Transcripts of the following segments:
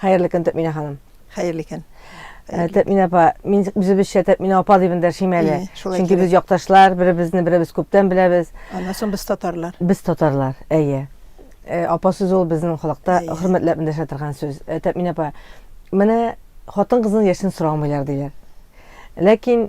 Хәерле көн, Тәтминә ханым. Хәерле көн. Э, Тәтминә апа, мин үзебезчә Тәтминә апа дип эндәшим әле. Чөнки без якташлар, беребезне беребез күптән беләбез. Аннан соң без татарлар. Без татарлар, әйе. Э, апа сүз ул безнең халыкта хөрмәтләп эндәшә торган сүз. Э, Тәтминә апа, менә хатын-кызның яшен сорамыйлар диләр. Ләкин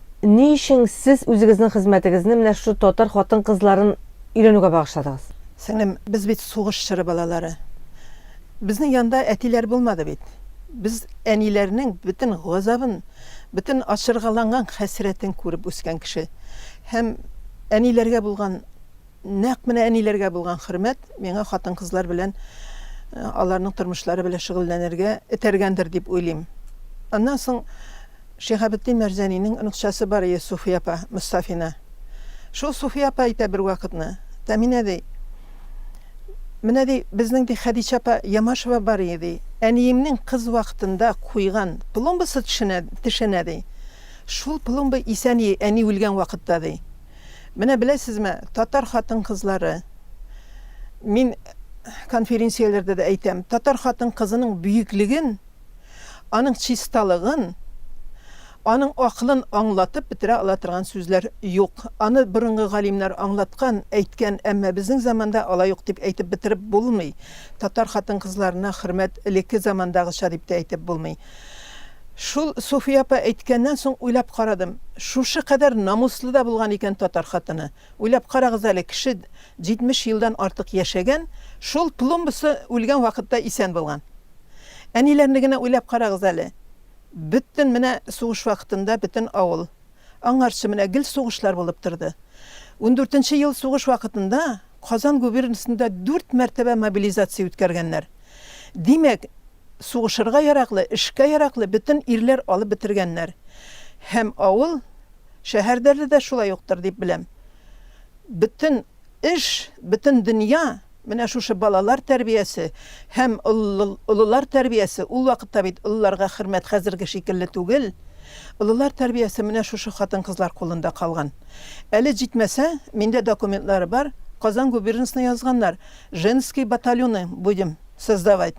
Ни өчен сез үзегезнең хезмәтегезне менә шушы татар хатын-кызларын өйрәнүгә багышладыгыз? Сеңлем, без бит сугыш чоры балалары. Безнең янда әтиләр булмады бит. Без әниләрнең бөтен газабын, бөтен ачыргаланган хәсрәтен күреп үскән кеше. Һәм әниләргә булган Нәкъ менә әниләргә булган хөрмәт миңа хатын-кызлар белән аларның тормышлары белән шөгыльләнергә этәргәндер дип уйлыйм. Аннан соң Шиһабетдин Мәрзәнинең оныкчасы бар ие Суфия апа Мостафина. Шул Суфия апа әйтә бервакытны, Тәминә ди, Менә ди, безнең ди Хәдичә апа Ямашева бар ие ди, әниемнең кыз вакытында куйган пломбасы тешенә, тешенә ди. Шул пломба исән ие әни үлгән вакытта ди. Менә беләсезме, татар хатын-кызлары, мин конференцияләрдә дә әйтәм, татар хатын-кызының бөеклеген, аның чисталыгын, аның акылын аңлатып бетерә ала торган сүзләр юк. Аны борынгы галимнәр аңлаткан, әйткән, әмма безнең заманда алай ук дип әйтеп бетереп булмый. Татар хатын-кызларына хөрмәт элекке замандагыча дип тә әйтеп булмый. Шул Суфия апа әйткәннән соң уйлап карадым, шушы кадәр намуслы да булган икән татар хатыны. Уйлап карагыз әле, кеше 70 елдан артык яшәгән, шул пломбасы үлгән вакытта исән булган. Әниләрне генә уйлап карагыз әле. Бөтен менә сугыш вакытында бөтен авыл. Аңарчы менә гел сугышлар булып торды. Ундүртенче ел сугыш вакытында Казан губернасында дүрт мәртәбә мобилизация үткәргәннәр. Димәк, сугышырга яраклы, эшкә яраклы бөтен ирләр алып бетергәннәр. Һәм авыл, шәһәрдәле дә шулай уктыр дип беләм. Бөтен эш, бөтен дөнья менә шушы балалар тәрбиясе һәм олылар тәрбиясе, ул вакытта бит олыларга хөрмәт хәзерге шикелле түгел, олылар тәрбиясе менә шушы хатын-кызлар кулында калган. Әле җитмәсә, миндә документлары бар, Казан губернасына язганнар, женские батальоны будем Создавать.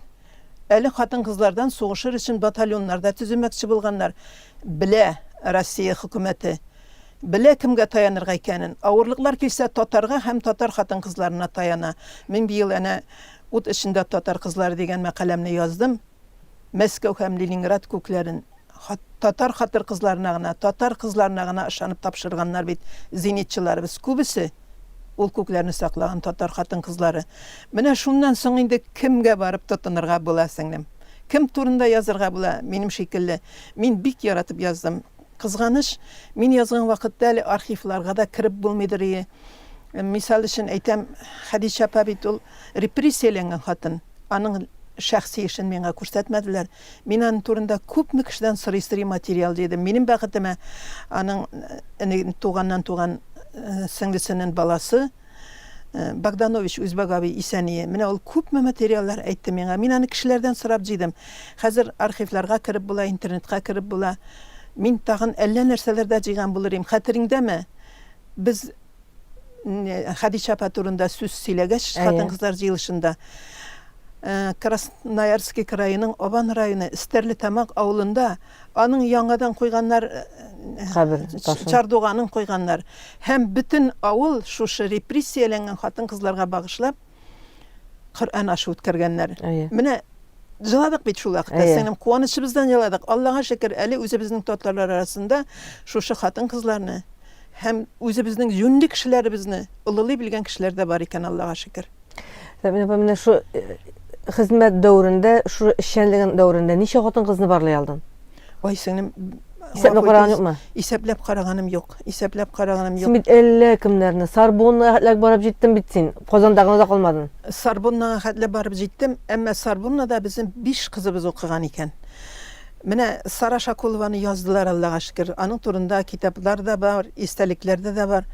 Әле хатын-кызлардан сугышыр өчен батальоннар да төземәкче булганнар. Белә Россия хөкүмәте. Белә кемгә таянырга икәнен. Авырлыклар килсә, татарга һәм татар хатын-кызларына таяна. Мин быел әнә Ут эчендә татар кызлары дигән мәкаләмне яздым. Мәскәү һәм Ленинград күкләрен. Татар хатыр-кызларына гына, татар кызларына гына ышанып тапшырганнар бит зенитчыларыбыз күбесе, ул күкләрне саклаган татар хатын-кызлары. Менә шуннан соң инде кемгә барып тотынырга була, сеңлем? Кем турында язырга була, минем шикелле? Мин бик яратып яздым. Кызганыч, мин язган вакытта әле архивларга да кереп булмыйдырые. Мисал өчен әйтәм, Хәдичә апа бит ул репрессияләнгән хатын. Аның шәхси эшен миңа күрсәтмәделәр. Мин аның турында күпме кешедән сорый-сорый материал җыйдым. Минем бәхетемә, аның туганнан туган сеңлесенен баласы Богданович Үзбәк абый Исәние. Менә ул күпме материаллар әйтте миңа. Мин аны кешеләрдән сорап җыйдым. Хәзер архивларга кереп була, интернетка кереп була. Мин тагын әллә нәрсәләр дә җыйган булыр идем. Хәтереңдәме? Без Хәдичә апа турында сүз сөйләгәч, хатын-кызлар җыелышында, Красноярский краеның Абан районы Стәрлетамак авылында аның яңадан куйганнар кабер ташын, чардуганын куйганнар. Һәм бөтен авыл шушы репрессияләнгән хатын-кызларга багышлап, Коръән ашы үткәргәннәр. Менә җыладык бит шул вакытта. Сеңлем, куанычыбыздан җыладык. Аллага шөкер, әле үзебезнең татарлар арасында шушы хатын-кызларны һәм үзебезнең юньле кешеләребезне олылый белгән кешеләр дә бар икән, Аллага шөкер. Менә менә шу э, хезмәт дәврендә, шу эшчәнлеген дәврендә ничә хатын-кызны барлый алдың? Ой, сеңлем, Исәпләп караган юкмы? Исәпләп караганым юк. Исәпләп караганым юк. Син бит әллә кемнәрне Сарбоннага хәтләп барып җиттең бит син. Казандагы озак калмадың. Сарбоннага хәтләп барып җиттем, әмма Сарбоннада безнең биш кызыбыз укыган икән. Менә Сара Шакулованы яздылар, Аллага шөкер. Аның турында китаплар да бар, истәлекләрдә дә бар.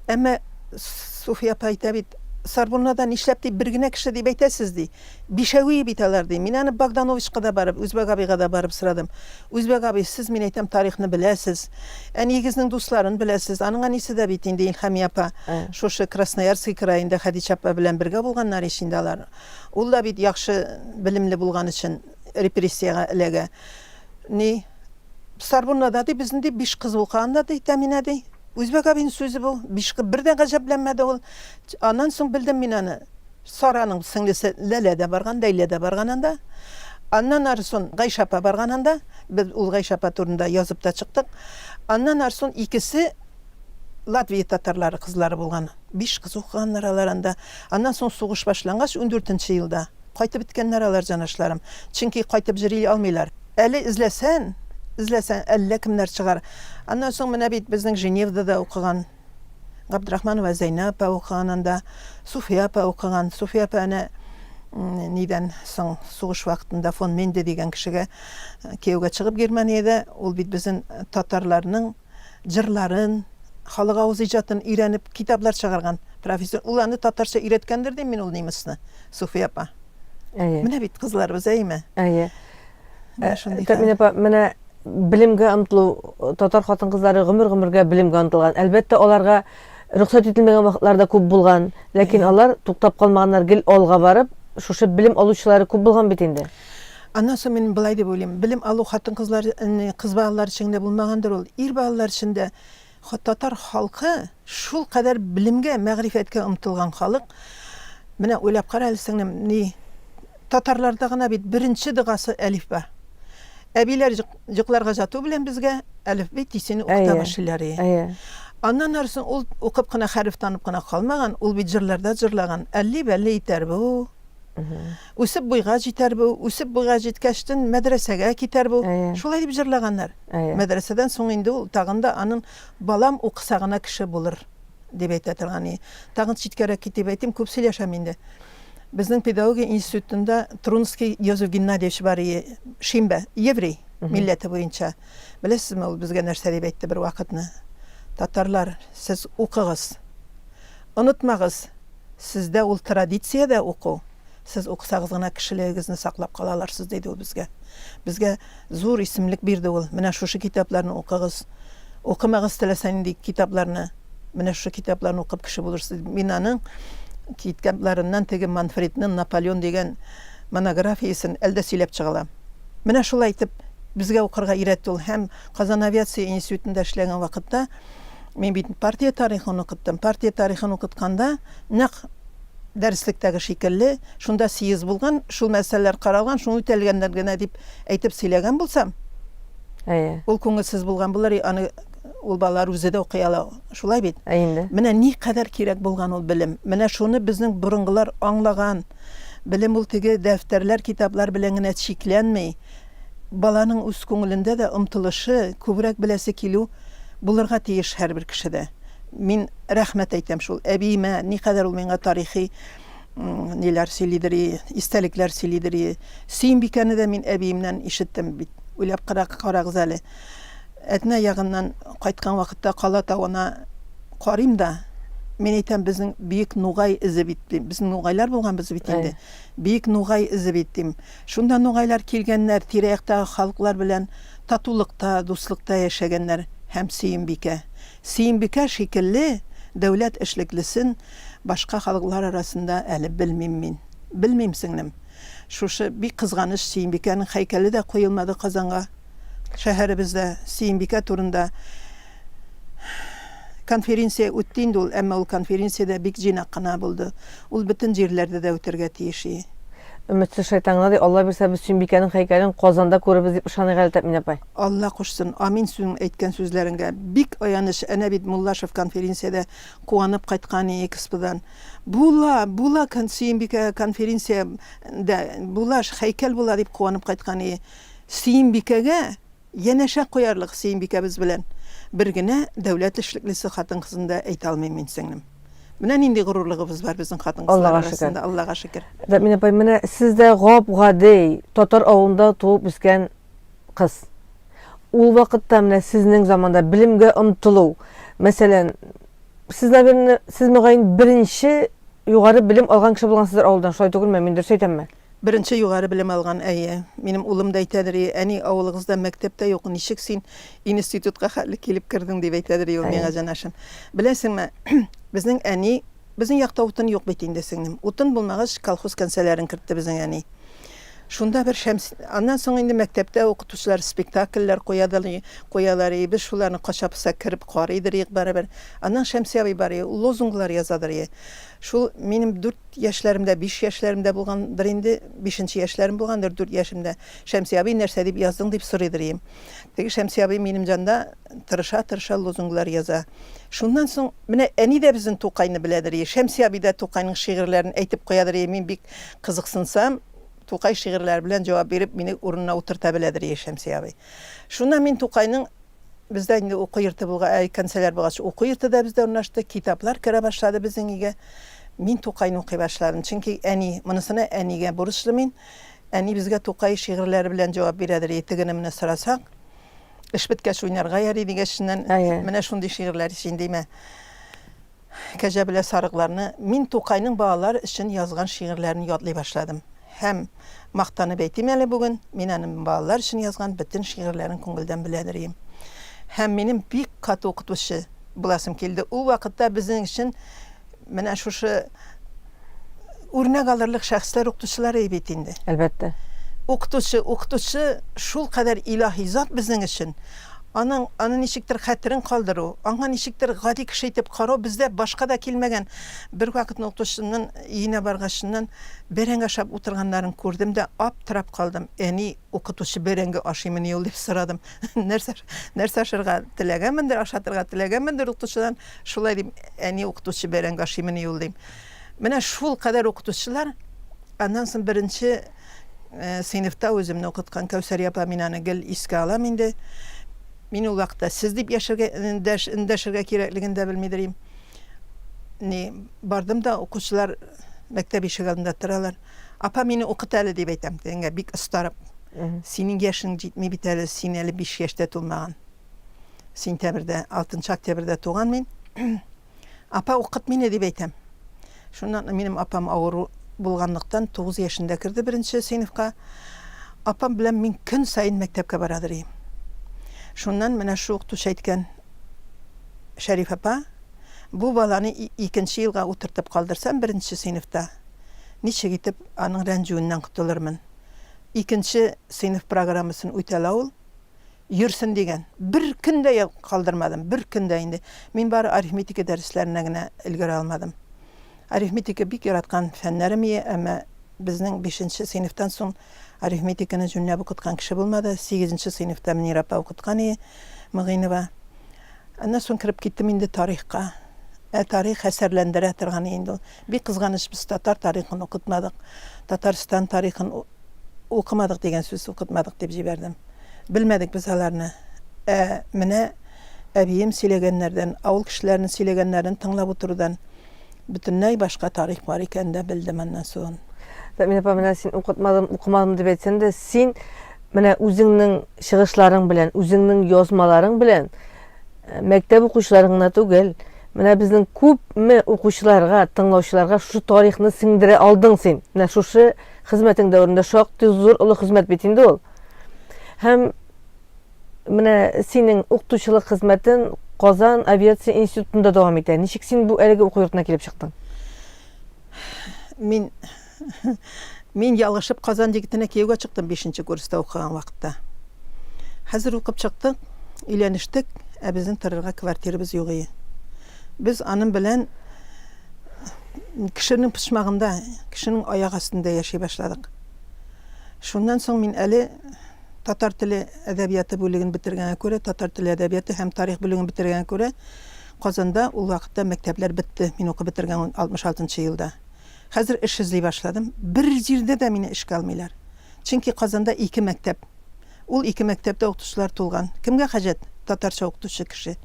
Әмма Суфия апа әйтә бит, Сарбоннада нишләп дип бер генә кеше дип әйтәсез ди. Бишәвие бит алар, ди. Мин аны Богдановичка да барып, Үзбәк абыйга да барып сорадым. Үзбәк абый, сез, мин әйтәм, тарихны беләсез. Әниегезнең дусларын беләсез. Аның әнисе дә бит инде Илһамия апа, шушы Красноярский краенда Хәдичә апа белән бергә булганнар ич инде алар. Ул да бит яхшы белемле булган өчен репрессиягә эләгә. Ни, Сарбунда да, ди, безне, ди, биш кыз укыган да, ди, Тәминә, ди. Үзбәк абыйның сүзе бу. Биш кыз. Бер дә гаҗәпләнмәде ул. Аннан соң белдем мин аны. Сараның сеңлесе Ләлә дә барган, Ләйлә дә барган анда. Аннан арысон Гайшә апа барган анда. Без ул Гайшә апа турында язып та чыктык. Аннан арысон икесе Латвия татарлары кызлары булган. Биш кыз укыганнар алар анда. Аннан соң сугыш башлангач, ундүртенче елда кайтып беткәннәр алар, җанашларым. Чөнки кайтып җөри алмыйлар. Әле эзләсән, эзләсәң, әллә кемнәр чыгар. Аннан соң менә бит безнең Женевдада укыган. Габдрахманова Зәйнә апа укыган анда, Суфия апа укыган. Суфия апа әнә нидән соң сугыш вакытында фон Менде дигән кешегә кияүгә чыгып Германиядә, ул бит безнең татарларның җырларын, халык авыз иҗатын өйрәнеп китаплар чыгарган профессор. Ул аны татарча өйрәткәндер дим мин ул немецны, Суфия апа. Әйе. Менә бит кызларыбыз, әйеме? Әйе. Менә шундый. Тәминә апа, менә Белемгә омтылу, татар хатын-кызлары гомер-гомергә белемгә омтылган. Әлбәттә, аларга рөхсәт ителмәгән вакытлар да күп булган, ләкин алар туктап калмаганнар, гел алга барып, шушы белем алучылары күп булган бит инде. Аннан соң мин болай дип уйлыйм, белем алу хатын-кызлар, кыз балалар өчен генә булмагандыр ул, ир балалар өчен дә Татар халкы шул кадәр белемгә, мәгърифәткә омтылган халык. Менә уйлап кара әле, сеңлем, ни татарларда гына бит беренче догасы әлифба. Әбиләр йокларга яту белән безгә әлифби тисене укыта башлыйлар. Әйе. Аннан арысын ул укып кына хәреф танып кына калмаган, ул бит җырларда җырлаган, әлли-бәлли итәр бу, Үсеп буйга җитәр бу, үсеп буйга җиткәчтен мәдрәсәгә китәр бу. Шулай дип җырлаганнар. Мәдрәсәдән соң инде ул тагын да аның балам укыса гына кеше булыр дип әйтә торган. Тагын читкәрәк китеп әйтим, күп сөйләшәм инде. Безнең педагогия институтында Трунский Йозеф Геннадьевич бар, шимбә, еврей милләте буенча. Беләсезме, ул безгә нәрсә дип әйтте бервакытны? Татарлар, сез укыгыз. Онытмагыз, сездә ул традиция дә уку, сез укысагыз гына кешелегегезне саклап кала аларсыз, диде ул безгә. Безгә зур исемлек бирде ул, менә шушы китапларны укыгыз, укымагыз теләсә нинди китапларны, менә шушы китапларны укып кеше булырсыз, диде. Мин аның китапларыннан теге Манфредның Наполеон дигән монографиясен әле дә сөйләп чыга алам. Менә шулай итеп безгә укырга өйрәтте ул һәм Казан авиация институтында эшләгән вакытта, Мин бит партия тарихын укыттым. Партия тарихын укытканда, нәкъ дәреслектәге шикелле, шунда съезд булган, шул мәсьәләләр каралган, шул үтәлгәннәр генә дип әйтеп сөйләгән булсам, Әйе. ул күңелсез булган булыр, и, аны ул балалар үзе дә укый ала, шулай бит? Ә инде. Менә никадәр кирәк булган ул белем. Менә шуны безнең борынгылар аңлаган. Белем ул теге дәфтәрләр, китаплар белән генә чикләнми. Баланың үз күңелендә дә омтылышы, күбрәк беләсе килү булырга тиеш һәрбер кешедә. Мин рәхмәт әйтәм шул әбиемә, никадәр ул миңа тарихи ниләр сөйлидер и, истәлекләр сөйлидер и. Сөембикәне дә мин әбиемнән ишеттем бит. Уйлап карагыз әле, Әтнә ягыннан кайткан вакытта Кала тавына карыйм да, мин әйтәм, безнең Бөек Нугай эзе бит, дим. Безнең нугайлар булганбыз бит инде. Бөек Нугай эзе бит, дим. Шунда нугайлар килгәннәр, тирә-яктагы халыклар белән татулыкта, дуслыкта яшәгәннәр һәм Сөембикә, Сөембикә шикелле дәүләт эшлеклесен башка халыклар арасында әле белмим мин. Белмим, сеңлем. Шушы бик кызганыч, Сөембикәнең һәйкәле дә куелмады Казанга. Шәһәребездә Сөембикә турында конференция үтте инде ул, әмма ул конференция дә бик җыйнак кына булды. Ул бөтен җирләрдә дә үтәргә тиеш и. Өметсез шайтан гына ди, Алла бирсә, без Сөембикәнең һәйкәлен Казанда күрербез дип ышаныйк әле, Тәэмин апай. Алла кушсын. Амин синең әйткән сүзләреңгә. Бик аяныч, әнә бит Муллашев конференциядә куанып кайткан и эксподан. Була, була Сөембикә конференция дә, була, һәйкәл була дип куанып кайткан и. Сөембикәгә янәшә куярлык Сөембикәбез белән бер генә дәүләт эшлеклесе хатын-кызын да әйтә алмыйм мин, сеңлем. Менә нинди горурлыгыбыз бар безнең хатын-кызлар арасында, Аллага шөкер. Дәмин апай, менә сез дә гап-гади татар авылында туып үскән кыз. Ул вакытта, менә сезнең заманда белемгә омтылу, мәсәлән, сез, наверное, сез, мөгаен, беренче югары белем алган кеше булгансыздыр авылдан, шулай түгелме, мин дөрес әйтәмме? Беренче югары белем алган, әйе. Минем улым да әйтәдер, и, әни, авылыгызда мәктәп тә юк, ничек син институтка хәтле килеп кердең, дип әйтәдер и ул миңа, җанашым. Беләсеңме, безнең әни, безнең якта утын юк бит инде, сеңлем. Утын булмагач, колхоз кәнсәләрен кертте безнең әни. Шунда бер шәмс... Аннан соң инде мәктәптә укытучылар спектакльләр куядыр и, куялар и, без шуларны кача-поса кереп карыйдыр идек барыбер. Аннан Шәмси абый бар и, ул лозунглар язадыр и. Шул минем дүрт яшьләремдә, биш яшьләремдә булгандыр инде, бишенче яшьләрем булгандыр, дүрт яшемдә, Шәмси абый, нәрсә дип яздың, дип сорыйдыр ием. Теге Шәмси абый минем җанда тырыша-тырыша лозунглар яза. Шуннан соң, менә әни дә безнең Тукайны беләдер ие, Шәмси абый да Тукайның шигырьләрен әйтеп куядыр ие, мин бик кызыксынсам, Тукай шигырьләре белән җавап биреп, мине урынына утырта беләдер ие Шәмси абый. Шуннан мин Тукайның. Бездә инде уку йорты булга, ә кәнсәләр булгач, уку йорты да бездә урнашты, китаплар керә башлады безнең өйгә. Мин Тукайны укый башладым, чөнки әни, монысына әнигә бурычлы мин. Әни безгә Тукай шигырьләре белән җавап бирәдер, е тегене менә сорасак, эш беткәч уйнарга яри дигәченнән, менә шундый шигырьләр җиндимә. Кәҗә белә сарыкларны Мин Тукайның балалар өчен язган шигырьләрен ятлый башладым һәм, мактанып әйтим әле бүген, мин аны балалар өчен язган бөтен шигырьләрен күңелдән беләдер ием. Һәм минем бик каты укытучы буласым килде. Ул вакытта безнең өчен менә шушы үрнәк алырлык шәхесләр укытучылары бит инде. Әлбәттә. Укытучы, укытучы шулкадәр илаһи зат безнең өчен. Аның, аны ничектер хәтерен калдыру, аңа ничектер гади кеше итеп карау бездә башка да килмәгән. Бервакытны укытучымнын өенә баргачыннан бәрәңге ашап утырганнарын күрдем дә аптырап калдым. Әни, укытучы бәрәңге ашыймыни ул? дип сорадым. Нәрсә, нәрсә ашарга теләгәнмендер, ашатырга теләгәнмендер укытучыдан. Шулай дим, әни укытучы бәрәңге ашыймыни ул, дим. Менә шул кадәр укытучылар, аннан соң беренче сыйныфта үземне укыткан Кәүсәрия апа, мин аны гел искә алам инде. Мин ул вакытта сез дип яшәргә, эндәшергә кирәклеген дә белмидер идем. Ни, бардым да, укучылар мәктәп ишеге алдында торалар. Апа, мине укыт әле дип әйтәм, тегеңә бик остарып. Синең яшең җитми бит әле, син әле биш яшьтә тулмаган. Сентябрьдә, 6 октябрьдә туган мин. Апа укыт мине дип әйтәм. Шуннан минем апам авыру булганлыктан 9 яшендә керде беренче сыйныфка. Апам белән мин көн саен мәктәпкә барадыр идем. Шуннан менә шул укытучы әйткән Шәриф апа, бу баланы икенче елга утыртып калдырсам беренче сыйныфта, ничек итеп аның рәнҗүеннән котылырмын? Икенче сыйныф программасын үтәлә ул. Йөрсен дигән. Бер көн дә калдырмадым, бер көн дә инде. Мин бары арифметика дәресләренә генә өлгерә алмадым. Арифметика бик яраткан фәннәрем ие, әмма безнең бишенче сыйныфтан соң арифметиканы җүнләп укыткан кеше булмады. Сигезенче сыйныфта Мөнир апа укыткан ие, Мөгыйнова. Аннан соң кереп киттем инде тарихка. Ә тарих хәсәрләндерә торган ие инде ул. Бик кызганыч, без татар тарихын укытмадык, Татарстан тарихын укымадык дигән сүз укытмадык, дип җибәрдем. Белмәдек без аларны. Ә менә әбием сөйләгәннәрдән, авыл кешеләренең сөйләгәннәрен тыңлап утырудан бөтенләй башка тарих бар икәнен дә белдем аннан соң. Замина апа, менә син укытмадым, укымадым дип әйтсәң дә, син менә үзеңнең чыгышларың белән, үзеңнең язмаларың белән Мәктәп укучыларын гына түгел, менә безнең күпме укучыларга, тыңлаучыларга шушы тарихны сеңдерә алдың син. Менә шушы хезмәтең дәверендә шактый зур олы хезмәт бит инде ул. Һәм менә синең укытучылык хезмәтен Казан авиация институтында дәвам итә. Ничек син бу әлеге уку йортына килеп чыктың? Мин Мин ялгышып Казан егетенә кияүгә чыктым бишенче курста укыган вакытта. Хәзер укып чыктык, өйләнештек, ә безнең торырга квартирабыз юк ие. Без аның белән кешенең почмагында, кешенең аяк астында яши башладык. Шуннан соң мин әле татар теле әдәбияты бүлеген бетергәнгә күрә, татар теле әдәбияты һәм тарих бүлеген бетергәнгә күрә, Казанда ул вакытта мәктәпләр бетте. Мин укып бетергән 66 елда. Хәзер эш эзли башладым. Бер җирдә дә мине эшкә алмыйлар. Чөнки Казанда ике мәктәп. Ул ике мәктәптә укытучылар тулган. Кемгә хаҗәт татарча укытучы кеше?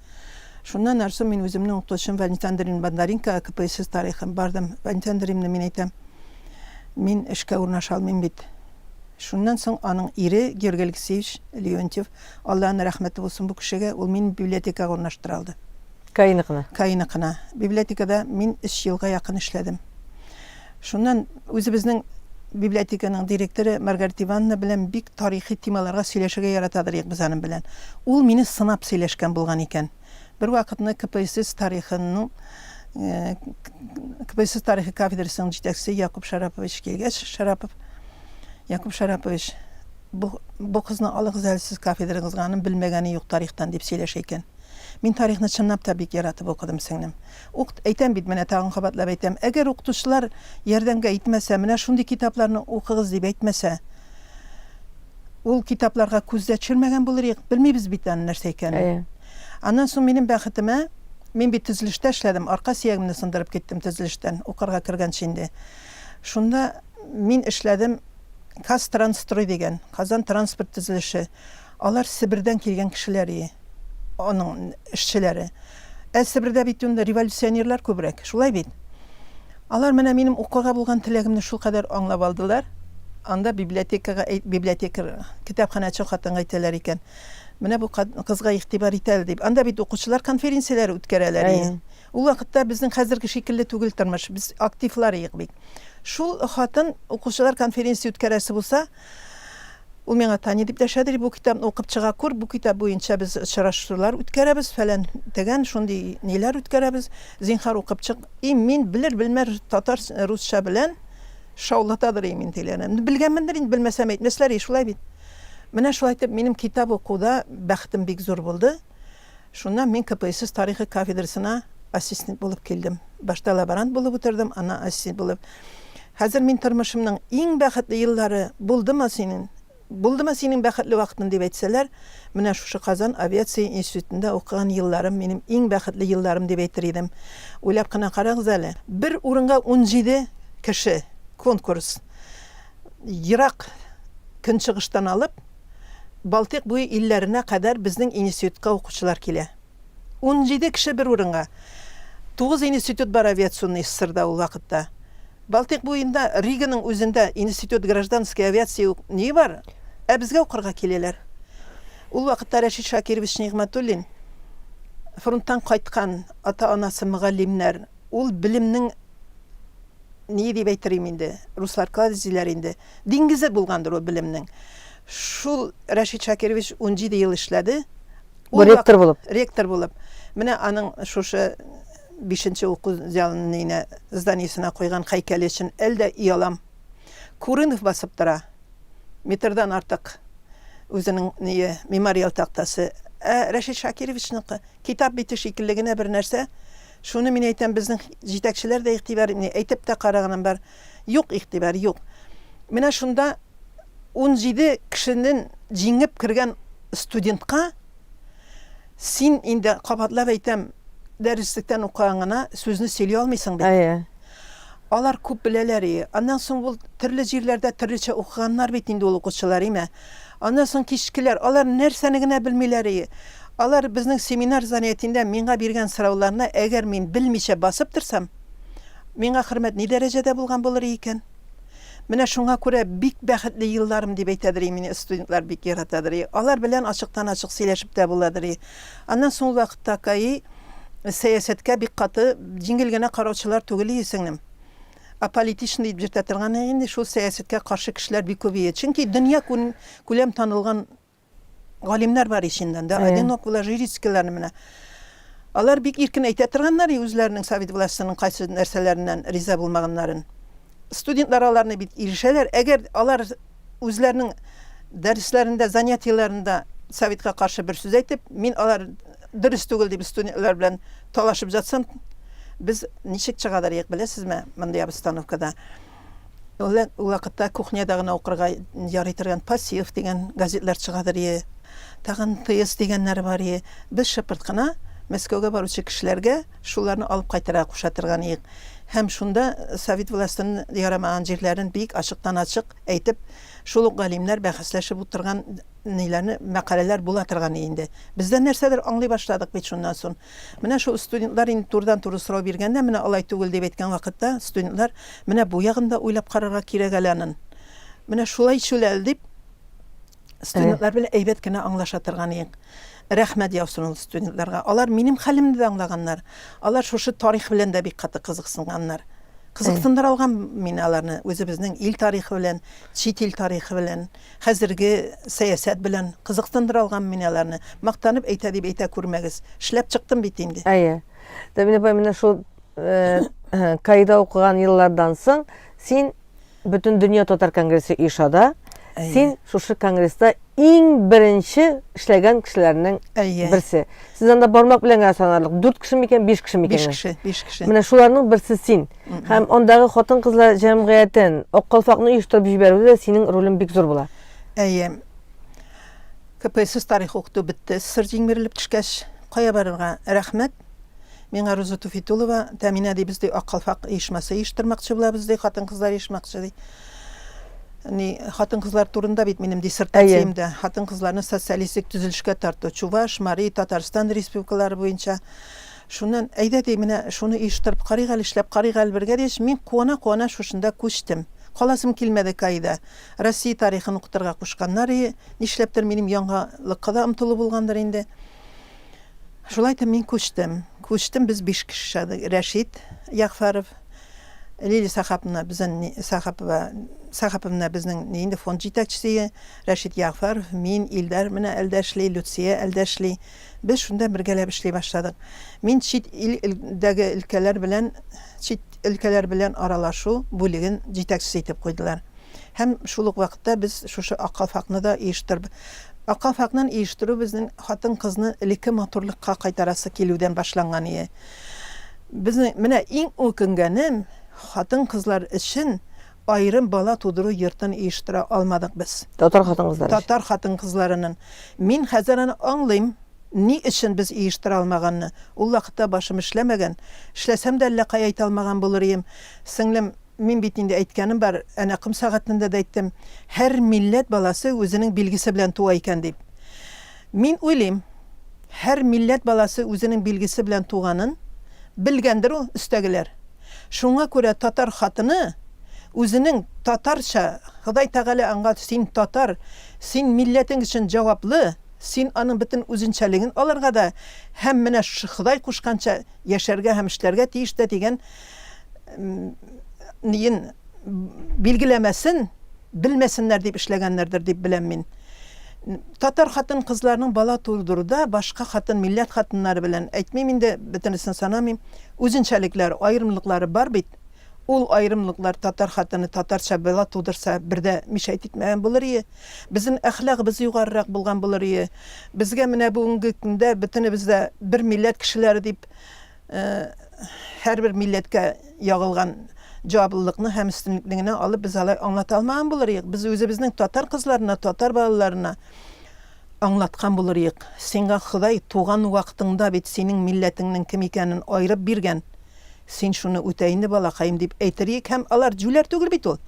Шуннан нарсу мин үземнең укытучым Валентин Андреевна Бондаренкога КПСС тарихын бардым. Валентин Андреевна, мин әйтәм, мин эшкә урнаша алмыйм бит. Шуннан соң аның ире Георгий Алексеевич Леонтьев, Алланың рәхмәте булсын бу кешегә, ул мине библиотекага урнаштыра алды. Каеныкны. Каеныкны. Библиотекада мин өч елга якын эшләдем. Шуннан үзебезнең библиотеканың директоры Маргарита Ивановна белән бик тарихи темаларга сөйләшергә яратадыр идек без аның белән. Ул мине сынап сөйләшкән булган икән. Бер вакытны КПСС тарихының КПСС тарихы кафедрасының җитәкчесе Якуп Шарапович килгәч, Шарапов Якуп Шарапович Бу, бу кызны алыгыз әле сез кафедрагызга, аның белмәгәне юк тарихтан, дип сөйләшә икән. Мин тарихны чынлап та бик яратып укыдым, сеңлем. Укт, әйтәм бит, менә тагын кабатлап әйтәм, әгәр укытучылар ярдәмгә итмәсә, менә шундый китапларны укыгыз дип әйтмәсә, ул китапларга күз дә төшермәгән булыр идек, белмибез бит аның нәрсә икәнен. Әйе. Аннан соң минем бәхетемә, мин бит төзелештә эшләдем, арка сөягемне сындырып киттем төзелештән, укырга кергәнче инде. Шунда. Мин эшләдем Казтрансстрой дигән, Казан транспорт төзелеше. Алар Себердән килгән кешеләр ие, аның эшчеләре. Ә Себердә бит инде революционерлар күбрәк, шулай бит? Алар менә минем укырга булган теләгемне шулкадәр аңлап алдылар, анда библиотекага, библиотекарь, китапханәче хатынга әйтәләр икән, Менә бу кызга игътибар ит әле, дип. Анда бит укучылар конференцияләре үткәрәләр ие. Ул вакытта безнең хәзерге шикелле түгел тормыш, без активлар иек бит. Шул хатын, укучылар конференция үткәрәсе булса, ул миңа Таня дип дәшәдер, бу китапны укып чыга күр, бу китап буенча без очрашулар үткәрәбез, фәлән, төгән, шундый ниләр үткәрәбез, зинһар укып чык. И мин белер-белмәр татар, русча белән шаулатадыр и мин тегеләрне. Белгәнмендер инде, белмәсәм әйтмәсләр и, шулай бит. Менә шулай итеп минем китап укуда бәхетем бик зур булды. Шуннан мин КПСС тарихы кафедрасына ассистент булып килдем. Башта лаборант булып утырдым, аннан ассистент булып. Хәзер мин тормышымның иң бәхетле еллары булдымы синең, булдымы синең бәхетле вакытың дип әйтсәләр, менә шушы Казан авиация институтында укыган елларым минем иң бәхетле елларым дип әйтер идем. Уйлап кына карагыз әле, бер урынга унҗиде кеше, конкурс, ерак Көнчыгыштан алып, Балтыйк буе илләренә кадәр безнең институтка укучылар килә. Унҗиде кеше бер урынга. Тугыз институт бар авиационный ссрда ул вакытта. Балтыйк буенда, Риганың үзендә институт гражданской авиации ук ни бар, ә безгә укырга киләләр. Ул вакытта Рәшит Шакирович Нигъмәтуллин, фронттан кайткан, ата-анасы мөгаллимнәр, ул белемнең, ни дип әйтер им инде, руслар кладезиләр инде, Диңгезе булгандыр ул белемнең. Шул Рәшит Шакирович унҗиде ел эшләде. Бу ректор булып. Ректор булып. Менә аның шушы бишенче уку зәлненә зданиесенә куйган хәйкәле өчен әле дә оялам. Курынов басып тора. Метрдан артык үзенең ние мемориал тактасы. Ә Рәшит Шакировичныкы китап бите шикелле генә бер нәрсә. Шуны мин әйтәм, безнең җитәкчеләр дә игътибар итми, әйтеп тә караганым бар. Юк, игътибар, юк. Менә шунда унҗиде кешенен җиңеп кергән студентка син инде, кабатлап әйтәм, дәреслектән укыган гына сүзне сөйли алмыйсың бит. Әйе. Алар күп беләләр и. Аннан соң ул төрле җирләрдә төрлечә укыганнар бит инде ул укучылар, име? Аннан соң кичкеләр, алар нәрсәне генә белмиләр и. Алар безнең семинар занятиендә миңа биргән сорауларны әгәр мин белмичә басып торсам, Миңа хөрмәт ни дәрәҗәдә булган булыр икән? Менә шуңа күрә бик бәхетле елларым дип әйтәдер мине студентлар бик яратадыр. Алар белән ачыктан-ачык сөйләшеп тә буладыр. Аннан соң ул вакытта КАИ сәясәткә бик каты җиңел генә караучылар түгел ие сеңлем. Аполитичный дип йөртә торган инде шул сәясәткә каршы кешеләр бик күп ие. Чөнки дөнья күләм танылган Галимнәр бар иченнән дә, одинок була, жирицкийларны менә. Алар бик иркен әйтә торганнар, и үзләренең совет властенең кайсы нәрсәләреннән риза булмаганнарын. Студентлар аларны бит ирешәләр, әгәр алар үзләренең дәресләрендә, занятиеләрендә советка каршы бер сүз әйтеп, мин алар дөрес түгел дип студентлар белән талашып жатсам, без ничек чыгадыр ек, беләсезме, мондый обстановкада? Ул вакытта кухняда гына укырга ярый торган Пассив дигән газетлар чыгадыр ие, тагын Тыес дигәннәр бар ие. Без шыпырт кына Мәскәүгә баручы кешеләргә шуларны алып кайтырга куша торган иек һәм шунда совет властен ярамаган җирләрен бик ачыктан-ачык әйтеп, шул ук галимнәр бәхәсләшеп утырган ниләрне мәкаләләр була торган иде инде. Без дә нәрсәдер аңлый башладык бит шуннан сон. Менә шул студентлар инде турыдан-туры сорау биргәндә, менә алай түгел дип әйткән вакытта, студентлар, менә бу ягын да уйлап карарга кирәк әле анын. Менә шулай шул әле дип, студентлар белән әйбәт кенә аңлаша торган идек. Рәхмәт яусын ул студентларга. Алар минем хәлемне дә аңлаганнар. Алар шушы тарих белән дә бик каты кызыксынганнар. Кызыксындыра алган мин аларны үзебезнең ил тарихы белән, чит ил тарихы белән. Хәзерге сәясәт белән кызыксындыра алганмы мин аларны? Мактанып әйтә дип әйтә күрмәгез. Эшләп чыктым бит инде. Әйе. Дәмир апай, менә шул КАИда укыган еллардан соң син Бөтендөнья татар конгрессы оешада, син шушы конгресста иң беренче эшләгән кешеләрнең берсе. Сез анда бармак белән генә санарлык, дүрт кеше микән, биш кеше микән? Биш кеше, биш кеше. Менә шуларның берсе син. Һәм андагы хатын-кызлар җәмгыятен, Ак калфакны оештырып җибәрүдә дә синең ролең бик зур була. Әйе. КПСС тарих укыту бетте, СССР җиңмерелеп төшкәч, кая барырга? Рәхмәт. Миңа Руза Туфитулова, Тәминә дибез, ди, Ак калфак оешмасы оештырмакчы булабыз, ди, хатын-кызлар оешмакчы, ди. Ни, хатын-кызлар турында бит минем диссертациям дә, хатын-кызларны социалистик төзелешкә тарту, Чуваш, Мари, Татарстан республикалары буенча. Шуннан, әйдә, ди, менә шуны оештырып карыйк әле, эшләп карыйк әле бергә, дигәч, мин куана-куана шушында күчтем. Каласым килмәде Каида. Россия тарихын укытырга кушканнар и, нишләптер, минем яңалыкка да омтылу булгандыр инде. Шулай итеп мин күчтем. Күчтем, без биш кеше шадык. Рәшит Ягъфәров, Лилия Сәхапна, безнен ни, Сәхапова, Сәхаповна безнең ни инде фонд җитәкчесе и, Рәшит Ягъфәров, мин, Илдар менә әлдә эшли, Люция әлдә эшли. Без шунда бергәләп эшли башладык. Мин чит ил дәге өлкәләр белән чит өлкәләр белән аралашу бүлеген җитәкчесе итеп куйдылар. Һәм шул ук вакытта без шушы Ак калфакны да оештырб Ак калфакнын оештыру безнең хатын-кызны элекке матурлыкка кайтарасы килүдән башланган ие. Безнең менә иң үкенгәнем, хатын-кызлар өчен Аерым бала тудыру йортын оештыра алмадык без. Татар хатын-кызлары өчен. Татар хатын-кызларының. Мин хәзер аны аңлыйм, ни өчен без оештыра алмаганны. Ул вакытта башым эшләмәгән. Эшләсәм дә әллә кая әйтә алмаган булыр идем. Сеңлем, мин бит инде әйткәнем бар, әнә ком сәгатендә дә әйттем, һәр милләт баласы үзенең билгесе белән туа икән дип. Мин уйлыйм, һәр милләт баласы үзенең билгесе белән туганын белгәндер ул өстәгеләр. Шуңа күрә татар хатыны үзенең татарча, Ходай Тәгалә аңа син татар, син милләтең өчен җаваплы, син аның бөтен үзенчәлеген алырга да һәм менә Ходай кушканча яшәргә һәм эшләргә тиеш дә дигән ниен билгеләмәсен, белмәсеннәр дип эшләгәннәрдер дип беләм мин. Татар хатын-кызларының бала тудыруда башка хатын, милләт хатыннары белән, әйтмим инде, бөтенесен санамыйм, үзенчәлекләр, аерымлыклары бар бит. Ул аерымлыклар татар хатыны татарча бала тудырса, бер дә мишәйт итмәгән булыр ие. Безнең әхлагыбыз югарырак булган булыр ие. Безгә менә бүгенге көндә бөтенебез дә бер милләт кешеләре дип, һәрбер милләткә ягылган җаваплылыкны һәм өстенлекне генә алып, без алай аңлата алмаган булыр идек. Без үзебезнең татар кызларына, татар балаларына аңлаткан булыр идек. Сиңа Ходай туган вакытыңда бит синең милләтеңнең кем икәнен аерып биргән. Син шуны үтә инде, балакаем, дип әйтер идек. Һәм алар җүләр түгел бит ул.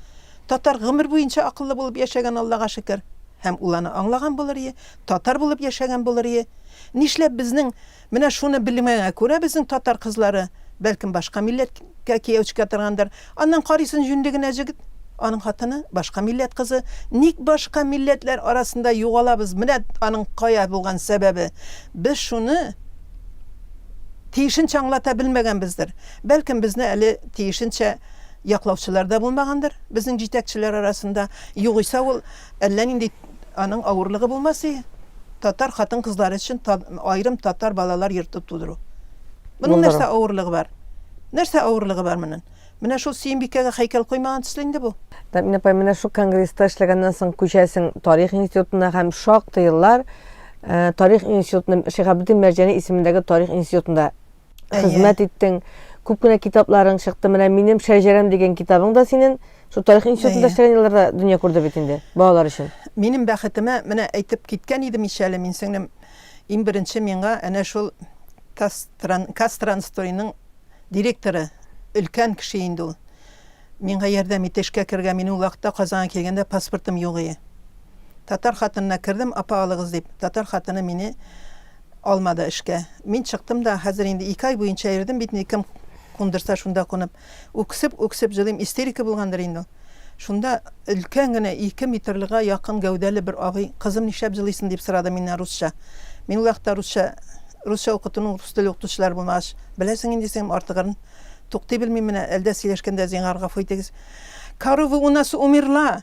Татар гомер буенча акыллы булып яшәгән, Аллага шөкер. Һәм ул аны аңлаган булыр идек, татар булып яшәгән булыр идек. Нишләп безнең Менә шуны белмәгәнгә күрә безнең татар кызлары, бәлкем башка милләткә кияү чикә торгандыр, аннан карыйсын җүнле генә җегет, аның хатыны, башка милләт кызы, ник башка милләтләр арасында югалабыз, менә аның кая булган сәбәбе, без шуны тиешенчә аңлата белмәгәнбездер, бәлкем безне әле тиешенчә яклаучылар да булмагандыр безнең җитәкчеләр арасында, югыйсә ул. Әллә нинди аның авырлыгы булмас и, татар хатын-кызлары өчен аерым татар балалар йорты тудыру. Моның нәрсә авырлыгы бар? Нәрсә авырлыгы бар моның? Менә шул Сөембикәгә һәйкәл куймаган төсле инде бу. Тәмин апай, менә шул конгресста эшләгәннән соң күчәсең тарих институтына һәм шактый еллар э, тарих институтында, Шиһабетдин Мәрҗани исемендәге тарих институтында хезмәт иттең. Күп кенә китапларың чыкты. Менә минем Шәҗәрәм дигән китабың да синен шул тарих институтында эшләгән елларда дөнья күрде бит инде, балалар өчен. Минем бәхетемә, менә әйтеп киткән идем ич әле мин сеңлем, иң беренче миңа әнә шул Кастранстойның директоры, өлкән кеше инде ул, миңа ярдәм итте эшкә керергә, мин ул вакытта Казанга килгәндә паспортым юк ие. Татар хатынына кердем, апа алыгыз дип, татар хатыны мине Алмады эшкә. Мин чыктым да, хәзер инде ике ай буенча йөрдем бит инде, кем кундырса шунда кунып. Үксеп-үксеп җылыйм, истерика булгандыр инде ул. Шунда өлкән генә, ике метрлыга якын гәүдәле бер абый, Кызым, нишләп җылыйсың? дип сорады миннән русча. Мин ул якта русча русча укытуның рус теле укытучылары булмагач, беләсең инде син артыгырын. Туктый белмим менә, әлдә сөйләшкәндә, зинһар гафу итегез. Коровы у нас умерла!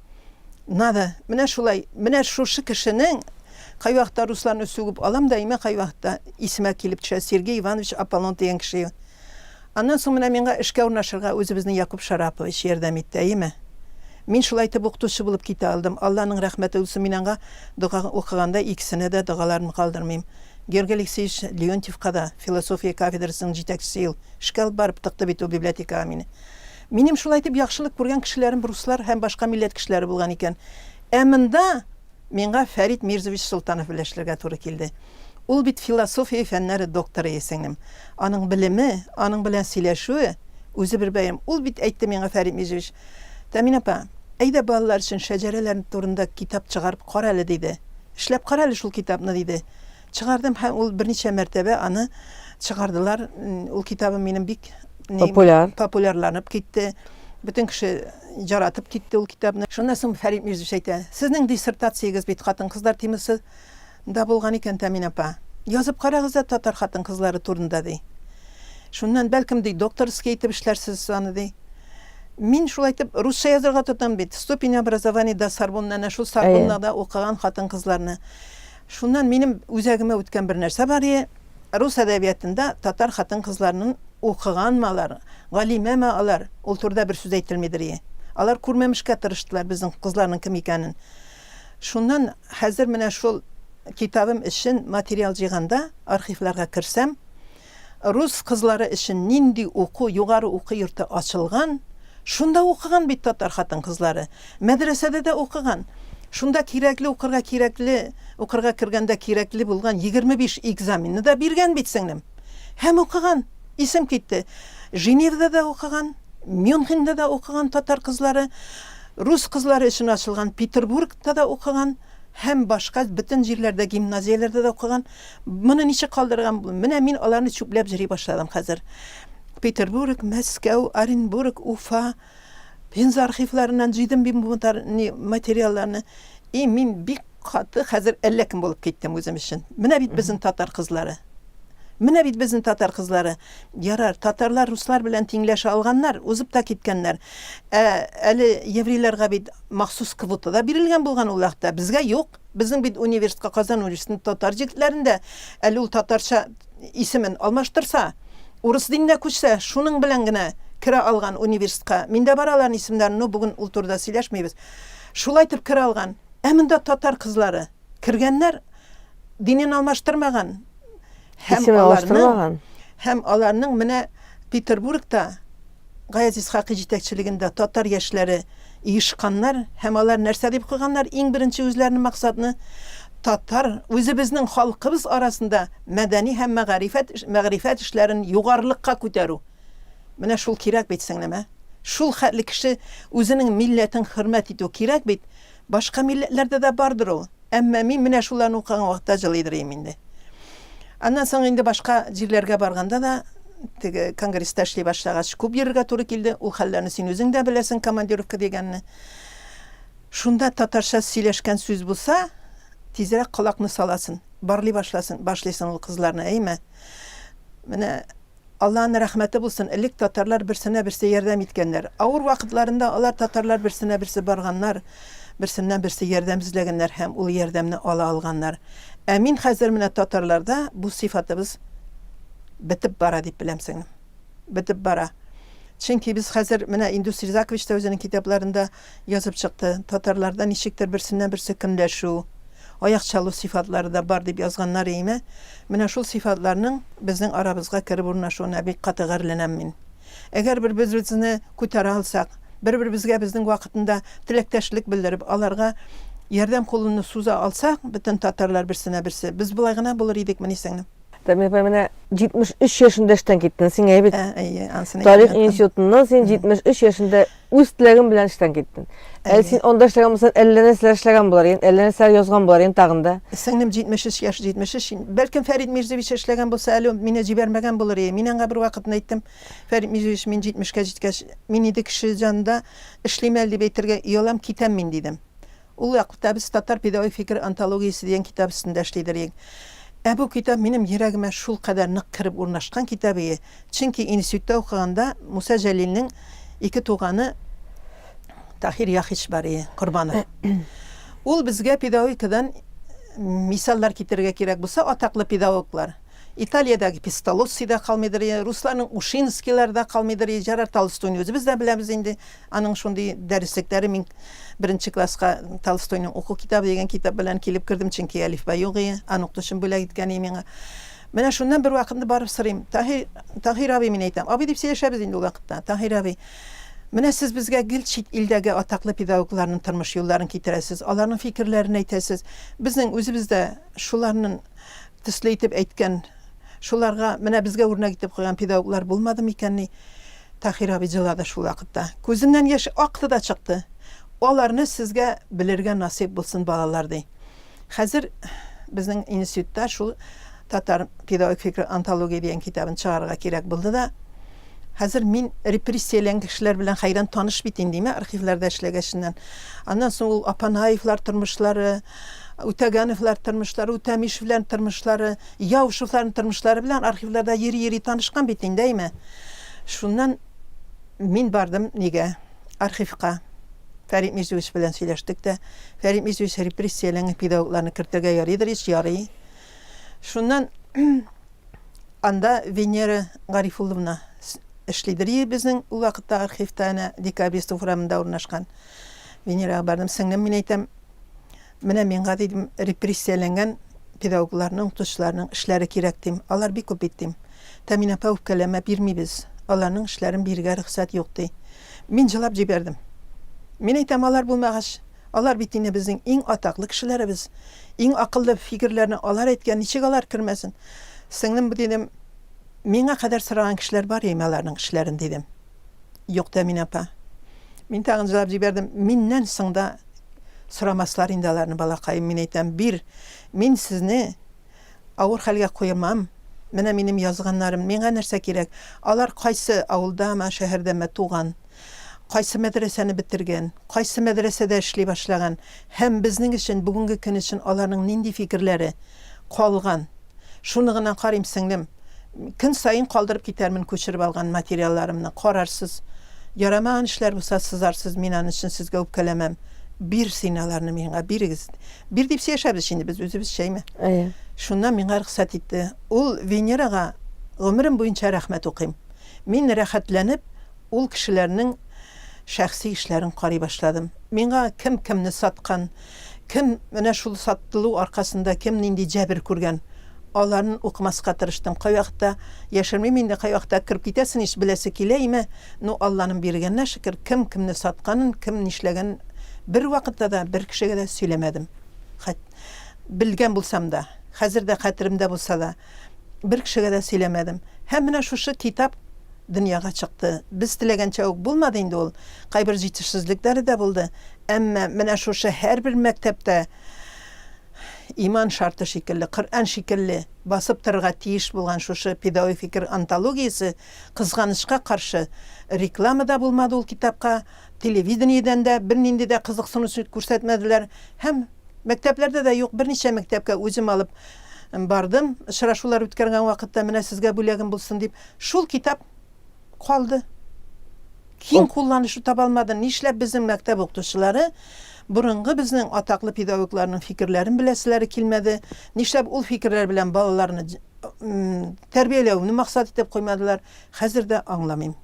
Надо, менә шулай, менә шушы кешенең, кайвакытта русларны сүгеп алам да имә, кайвакытта исемә килеп төшә, Сергей Иванович Аполлон дигән кеше. Аннан соң менә миңа эшкә урнашырга үзебезнең Якуб Шарапович ярдәм итте, әйеме? Мин шулай итеп укытучы булып китә алдым. Алланың рәхмәте булсын, мин аңа дога укыганда икесенә дә догаларымны калдырмыйм. Георгий Алексеевич Леонтьевка да, философия кафедрасының җитәкчесе ел, эшкә алып барып тыкты бит ул библиотекага мине. Минем шулай итеп яхшылык күргән кешеләрем руслар һәм башка милләт кешеләре булган икән. Ә монда миңа Фәрит Мирзович Солтанов белән эшләргә туры килде. Ул бит философия фәннәре докторы, ей, сеңлем. Аның белеме, аның белән сөйләшүе, үзе бер бәйрәм. Ул бит әйтте миңа, Фәрит Мирзович, Тәмин апа, әйдә балалар өчен шәҗәрәләр турында китап чыгарып кара әле, диде. Эшләп кара әле шул китапны, диде. Чыгардым һәм ул берничә мәртәбә аны чыгардылар. Ул китабым минем бик популяр популярланып китте. Бөтен кеше жаратып китте ул китапны. Шуннан соң Фәрит Мирзович әйтә, Сезнең диссертациягез бит хатын-кызлар темасы да булган икән, Тәмин апа. Язып карагыз да татар хатын-кызлары турында, ди. Шуннан, бәлкем, ди, докторский итеп эшләрсез аны, ди. Мин шулай итеп русча язарга тотам бит. Ступень образования да Сорбонна, әнә шул Сорбоннада укыган хатын-кызларны. Шуннан минем үзәгемә үткән бер нәрсә бар и, рус әдәбиятында татар хатын-кызларнын укыганмы алар, галимәме алар, ул турыда бер сүз әйтелмидер и. Алар күрмәмешкә тырыштылар безнең кызларның кем икәнен. Шуннан хәзер менә шул китабым өчен материал җыйганда, архивларга керсәм, Рус кызлары өчен нинди уку, югары уку йорты ачылган, шунда укыган бит татар хатын-кызлары. Мәдрәсәдә дә укыган. Шунда кирәкле укырга кирәкле, укырга кергәндә кирәкле булган егерме биш экзаменны да биргән бит, сеңлем. Һәм укыган. Исем китте. Женевада да укыган, Мюнхенда да укыган татар кызлары, рус кызлары өчен ачылган Петербургта да укыган һәм башка бөтен җирләрдә, гимназияләрдә дә укыган. Моны ничек калдырган? Менә мин аларны чүпләп җыри башладым хәзер. Петербург, Мәскәү, Оренбург, Уфа, Пенза архивларыннан җыйдым мин бу материалларны. И мин бик каты хәзер әллә кем булып киттем үзем өчен. Менә бит безнең татар кызлары. Менә бит безнең татар кызлары. Ярар, татарлар руслар белән тиңләшә алганнар, узып та киткәннәр. Ә әле еврейларга бит махсус квота да бирелгән булган ул вакытта, безгә юк. Безнең бит университетка Казан университетының татар җегетләрендә, әле ул татарча исемен алмаштырса, урыс диненә күчсә, шуның белән генә керә алган университетка. Мин дә бар аларның исемнәрен, ну, бүген ул турыда сөйләшмибез. Шулай итеп керә алган. Ә монда татар кызлары кергәннәр, динен алмаштырмаган, Һәм аларның, һәм аларның менә Петербургта Гаяз Исхакый җитәкчелегендә татар яшьләре иешканнар һәм алар нәрсә дип куйганнар? Иң беренче үзләренең максатны татар үзебезнең халкыбыз арасында мәдәни һәм мәгарифәт мәгърифәт эшләрен югарылыкка күтәрү. Менә шул кирәк бит сеңлемә. Шул хәтле кеше үзенең милләтен хөрмәт итү кирәк бит. Башка милләтләрдә дә бардыр ул, әмма мин менә шуларны укыган вакытта җылый дырыйм инде. Аннан соң инде башка җирләргә барганда да, теге конгресста эшли башлагач, күп йөрергә туры килде. Ул хәлләрне син үзең дә беләсең, командировка дигәнне. Шунда татарча сөйләшкән сүз булса, тизрәк колакны саласын, барлый башласын, башлыйсын ул кызларны, әйме? Менә Аллаһның рәхмәте булсын, элек татарлар берсенә берсе ярдәм иткәннәр. Авыр вакытларында алар татарлар берсенә берсе барганнар, берсеннән берсе ярдәм эзләгәннәр һәм ул ярдәмне ала алганнар. Ә мин хәзер менә татарларда бу сыйфатыбыз бетеп бара дип беләм сеңлем. Бетеп бара. Чөнки без хәзер менә Индус Ризакович та үзенең китапларында Язып чыкты. Татарларда ничектер берсеннән-берсе көнләшү, аяк чалу сыйфатлары да бар, дип язганнар иеме, менә шул сыйфатларның безнең арабызга кереп урнашуына бик каты гарьләнәм мин. Әгәр бер-беребезне күтәрә алсак, бер-беребезгә безнең вакытында теләктәшлек белдереп, аларга ярдәм кулыны суза алсак, бөтен татарлар берсенә-берсе, без болай гына булыр идекмени сеңлем? Тәмия апай, менә 73 яшендә эштән киттең, сиңа бит. Ә, әйе, ансын әйтеп яттым. Тарих институтыннан син 73 яшендә Үз теләгем белән эштән киттем. Әле син анда эшләгән булсаң, әллә нәрсәләр эшләгән булар идең, әллә нәрсәләр язган булар идең тагын да. Сеңлем 73 яшь, 73. Бәлкем Фәрит Мирзевич эшләгән булса, әле мине җибәрмәгән булыр иде. Мин аңа бервакытны әйттем, Фәрит Мирзевич, мин 70 кә җиткәч, мин инде кеше җанында эшлим әле дип әйтергә оялам, китәм мин, дидем. Ул вакытта без Татар педагогик фикере антологиясе дигән китап өстендә эшли идер ек. Ә бу китап минем йөрәгемә шулкадәр нык кереп урнашкан китап ие, чөнки институтта укыганда Муса Җәлилнең ике туганы Таһир Яхич бар ие, Корбанов. Ул безгә педагогикадан мисаллар китерергә кирәк булса, атаклы педагоглар. Италиядәге Песталоцци дә калмыйдыр ие, русларның Ушинскийлары да калмыйдыр ие, Җерар Толстойны үзебез дә беләбез инде, Аның шундый дәреслекләре, мин беренче класска Толстойның уку китабы дигән китап белән килеп кердем, чөнки әлифба юк ие, аны укытучым бүләк иткән ие миңа. Менә шуннан бервакытны барып сорыйм, Таһир, Таһир абый, мин әйтәм, абый дип сөйләшәбез инде ул вакытта, Таһир абый, менә сез безгә гел чит илдәге атаклы педагогларның тормыш юлларын китерәсез, аларның фикерләрен әйтәсез, безнең үзебез дә шуларның Төсле итеп әйткән. Шуларга, менә безгә үрнәк итеп куйган педагоглар булмады микәнни? Таһир абый җылады шул вакытта. Күзеннән яшь акты да чыкты. Аларны сезгә белергә насыйп булсын, балалар, ди. Хәзер безнең институтта шул Татар педагогик фикере антология дигән китабын чыгарырга кирәк булды да, хәзер мин репрессияләнгән кешеләр белән хәйран таныш бит инде, әйме, архивларда эшләгәченнән. Аннан соң ул Апанаевлар тормышлары, Үтәгәновлар тормышлары, Үтәмишев белән тормышлары, Яушевларның тормышлары белән архивларда йөри-йөри танышкан бит инде, әйме? Шуннан мин бардым нигә? Архивка. Фәрит Мизүевич белән сөйләштек тә, Фәрит Мизүевич репрессияләнгән педагогларны кертергә ярыйдыр ич, ярый. Шуннан анда Венера Гарифулловна эшлидер и безнең ул вакытта архивта әнә Декабрист урамында урнашкан. Венерага бардым, сеңлем, мин әйтәм, Менә мин гади дим, репрессияләнгән педагогларның, укытучыларның эшләре кирәк дим. Алар бик күп бит дим. Тәмин апа үпкәләмә, бирмибез. Аларның эшләрен бирергә рөхсәт юк, ди. Мин җылап җибәрдем. Мин әйтәм, алар булмагач, алар бит инде безнең иң атаклы кешеләребез. Иң акыллы фикерләрне алар әйткән, ничек алар кермәсен? Сеңлем, бу дидем, миңа кадәр сораган кешеләр бар яме аларның эшләрен, дидем. Юк, Тәмин апа. Мин тагын җылап җибәрдем. Миннән соң да Сорамаслар инде аларны, балакаем, мин әйтәм, бир, мин сезне авыр хәлгә куемам, менә минем язганнарым, миңа нәрсә кирәк, алар кайсы авылдамы, шәһәрдәме туган, кайсы мәдрәсәне бетергән, кайсы мәдрәсәдә эшли башлаган һәм безнең өчен, бүгенге көн өчен аларның нинди фикерләре калган? Шуны гына карыйм, сеңлем. Көн саен калдырып китәрмен күчереп алган материалларымны. Карарсыз. Ярамаган эшләр булса, сызарсыз, мин аны өчен сезгә үпкәләмәм. Бир син аларны миңа, бирегез. Бир дип сөяшәбез инде без үзебезчә, әйме? Әйе. Шуннан миңа рөхсәт итте. Ул Венерага гомерем буенча рәхмәт укыйм. Мин рәхәтләнеп ул кешеләрнең шәхси эшләрен карый башладым. Миңа кем кемне саткан, Кем менә шул сатылу аркасында кем нинди җәбер күргән, аларын укымаска тырыштым. Кайвакытта, яшермим инде, кайвакытта кереп китәсен ич, беләсе килә име, ну, Алланың биргәненә шөкер, кем кемне сатканын, кем нишләгәнен бервакытта да бер кешегә дә сөйләмәдем. Хәт. Белгән булсам да. Хәзер дә хәтеремдә булса да. Бер кешегә дә сөйләмәдем. Һәм менә шушы китап дөньяга чыкты. Без теләгәнчә үк булмады инде ул. Кайбер җитешсезлекләре дә булды. Әмма менә шушы һәрбер мәктәптә иман шарты шикелле, Коръән шикелле басып торырга тиеш булган шушы педагогик фикер антологиясе, кызганычка каршы, реклама да булмады ул китапка. Телевидениедән дә бернинди дә кызыксынучы күрсәтмәделәр һәм мәктәпләрдә дә юк берничә мәктәпкә үзем алып бардым, очрашулар үткәргән вакытта менә сезгә бүләгем булсын дип, шул китап калды. Киң кулланышу таба алмады. Нишләп безнең мәктәп укытучылары борынгы безнең атаклы педагогларның фикерләрен беләселәре килмәде, нишләп ул фикерләр белән балаларны тәрбияләүне максат итеп куймадылар? Хәзер дә аңламыйм.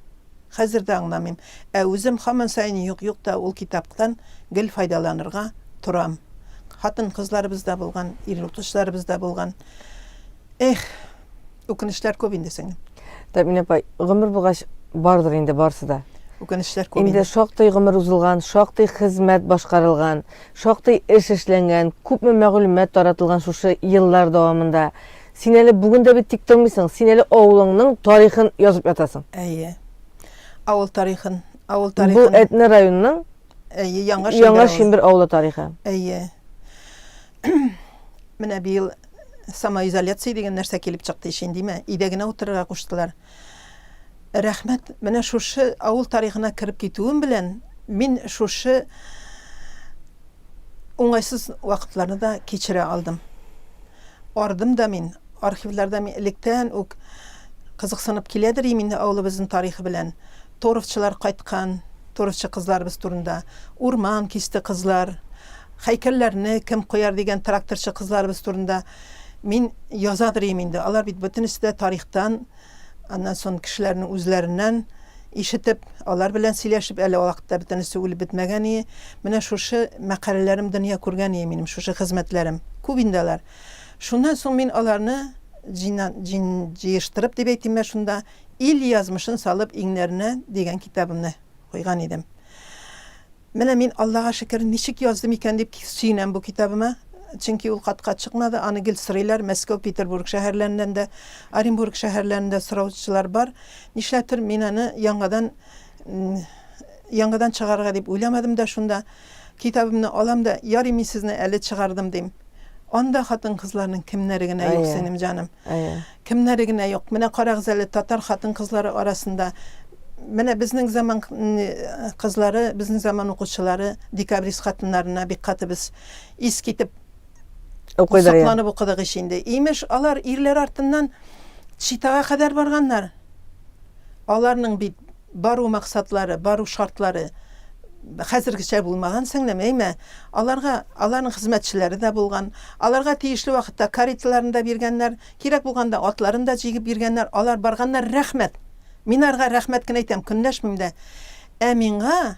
Хәзер дә аңламыйм. Ә үзем һаман саен юк-юк та ул китаптан гел файдаланырга торам. Хатын-кызларыбыз да булган, ир-утлышларыбыз да булган. Эх! Үкенечләр күп инде, сеңлем. Тәмин апа, гомер булгач, бардыр инде барысы да. Үкенечләр күп инде. Инде шактый гомер узылган, шактый хезмәт башкарылган, шактый эш эшләнгән, күпме мәгълүмат таратылган шушы еллар дәвамында. Син әле бүген дә бит тик тормыйсың, син әле авылыңның тарихын язып ятасың. Әйе. Авыл тарихын, авыл тарихын. Бу Әтнә районының Әйе, Яңа Шимбер. Яңа Шимбер авылы тарихы. Әйе. Менә быел самоизоляция дигән нәрсә килеп чыкты ишен, димә. Өйдә генә утырырга куштылар. Рәхмәт. Менә шушы авыл тарихына кереп китүем белән, мин шушы уңайсыз вакытларны да кичерә алдым. Ардым да мин, архивларда мин электән үк кызыксынып килә дер идем инде авылыбызның тарихы белән. Торовчылар кайткан, торовчы кызларыбыз турында. Урман кисте кызлар. Һәйкәлләрне кем куяр дигән тракторчы кызларыбыз турында мин язадыр ием инде. Алар бит бөтенесе дә тарихтан, аннан сон кешеләрнең үзләреннән ишетеп, алар белән сөйләшеп, әле вакытта бөтенесе үлеп бетмәгән ие. Менә шушы мәкаләләрем дөнья күргән ие минем, шушы хезмәтләрем. Күп инде алар. Шуннан соң мин аларны җина, җин, җыештырып дип әйтимме шунда, Ил язмышын салып иңнәренә дигән китабымны куйган идем. Менә мин, Аллага шөкер, ничек яздым икән дип сөенәм бу китабыма. Чөнки ул катка чыкмады, аны гел сорыйлар, Мәскәү, Петербург шәһәрләреннән дә, Оренбург шәһәрләрен дә сораучылар бар. Нишләптер, мин аны яңадан яңадан чыгарырга дип уйламадым да шунда. Китабымны алам да, Ярый, мин сезне әле чыгардым, дим. Анда хатын-кызларның кемнәре генә юк, сеңлем җаным. Кемнәре генә юк, менә карагыз әле, татар хатын-кызлары арасында, менә безнең заман кызлары, безнең заман укучылары декабрист хатыннарына бик каты без ис китеп, сокланып укыдык ич инде. Имеш, алар ирләр артыннан Читага кадәр барганнар. Аларның бит Бару максатлары, бару шартлары хәзергечә булмаган, сеңлем, әйме? Аларга аларның хезмәтчеләре дә булган. Аларга тиешле вакытта кареталарын да биргәннәр, кирәк булганда атларын да җигеп биргәннәр. Алар барганнар, рәхмәт! Мин аларга рәхмәт кенә әйтәм, көнләшмим дә. Ә миңа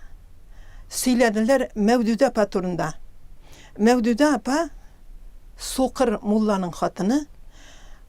сөйләделәр Мәүдүдә апа турында. Мәүдүдә апа, сукыр мулланың хатыны,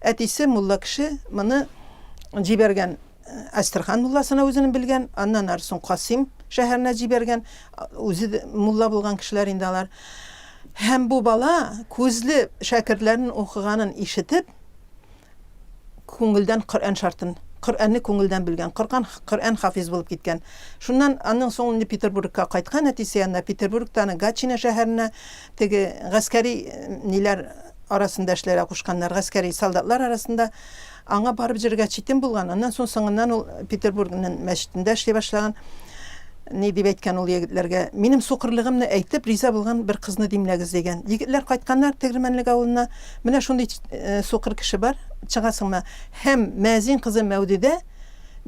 Әтисе мулла кеше моны җибәргән Әстерхан мулласына үзенең белгән, аннан ары соң Касыйм шәһәренә җибәргән, үзе мулла булган кешеләр инде алар. Һәм бу бала күзле шәкертләрен укыганын ишетеп, күңелдән Коръән шартын, Коръәнне күңелдән белгән, Коркан, Коръән хафиз булып киткән. Шуннан аннан соң инде Петербургка кайткан әтисе янына, Петербургта аны Гатчина шәһәренә теге гаскәри ниләр арасында эшләргә кушканнар, гаскәри солдатлар арасында аңа барып җырга читен булган, аннан соң соңыннан ул Петербургның мәчетендә эшли башлаган. Ни дип әйткән ул егетләргә, минем сукырлыгымны әйтеп, риза булган бер кызны димләгез, дигән. Егетләр кайтканнар Тегермәнлек авылына, менә шундый сукыр кеше бар, чыгасыңмы? Һәм мәзин кызы Мәүдүдә,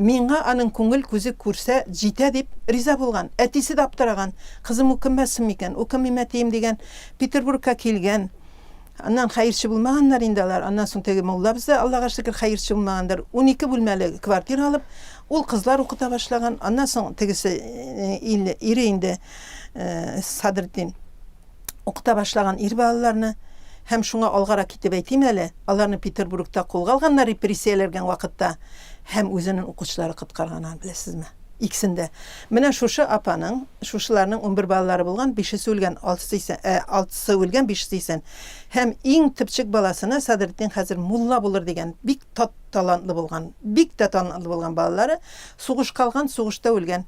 миңа аның күңел күзе күрсә җитә, дип риза булган. Әтисе дә аптыраган, кызым укымасын микән, укымыйм, әтием, дигән. Петербургка килгән, аннан хәерче булмаганнар инде алар, аннан соң теге муллабыз да, Аллага шөкер, хәерче булмагандыр, унике бүлмәле квартира алып, ул кызлар укыта башлаган, аннан соң тегесе, ил, ире инде, Садретдин, укыта башлаган ир балаларны, һәм шуңа алгарак китеп әйтим әле, аларны Петербургта кулга алганнар репрессияләргән вакытта, һәм үзенен укучылары коткарган аны, беләсезме? Икесен дә. Менә шушы апаның, шушыларның унбер балалары булган, бишесе үлгән, алтысы исән, ә, алтысы үлгән, бишесе исән. Һәм иң төпчек баласына Садретдин хәзер мулла булыр дигән, бик тат талантлы булган, бик тә талантлы булган балалары, сугышка алган, сугышта үлгән.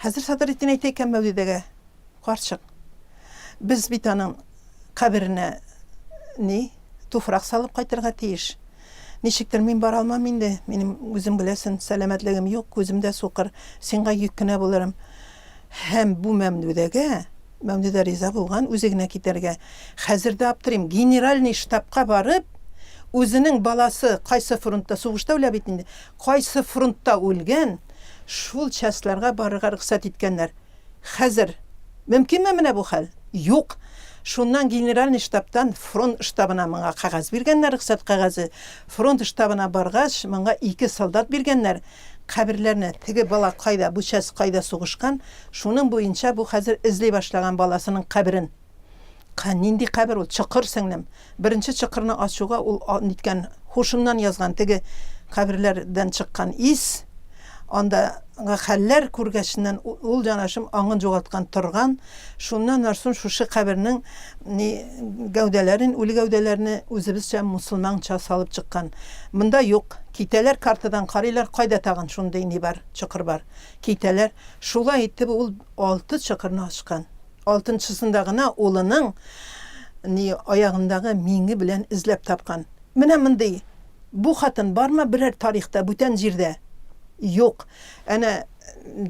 Хәзер Садретдин әйтә икән Мәүлидәгә, Карчык, без бит аның, Каберенә ни, туфрак салып кайтырга тиеш. Ничектер мин бара алмам инде, минем, үзең беләсен, сәламәтлегем юк, күзем дә сукыр, сиңга йөк кенә булырым. Һәм бу Мәмдүдәгә, Мәмдүдә риза булган, үзе генә китәргә. Хәзер дә аптырыйм, генеральный штабка барып, үзенең баласы кайсы фронтта, сугышта үлә бит инде, кайсы фронтта үлгән, шул частьларга барырга рөхсәт иткәннәр. Хәзер. Мөмкинме менә бу хәл? Юк! Шуннан Генеральный штабтан фронт штабына моңа кәгазь биргәннәр, рөхсәт кәгазе. Фронт штабына баргач, моңа ике солдат биргәннәр. Каберләрне, теге бала кайда, бу часть кайда сугышкан, шуның буенча бу хәзер эзли башлаган баласының каберен. Ка, нинди кабер ул, чокыр, сеңлем. Беренче чокырны ачуга ул а, ниткән, һушыннан язган, теге каберләр дән чыккан ис, анда гы хәлләр күргәченнән у, ул, җанашым, аңын җугалткан торган, шуннан нарсун шушы кабернең ни, гәүдәләрен, үле гәүдәләрне үзебезчә, мусылманча салып чыккан. Монда юк. Китәләр, картадан карыйлар, кайда тагын шундый ни бар, чокыр бар. Китәләр. Шулай итеп ул алты чокырны ачкан. Алтынчысында гына улының ни аягындагы миңе белән эзләп тапкан. Менә мондый Бу хатын бармы берәр тарихта, бүтән җирдә? Юк. Әнә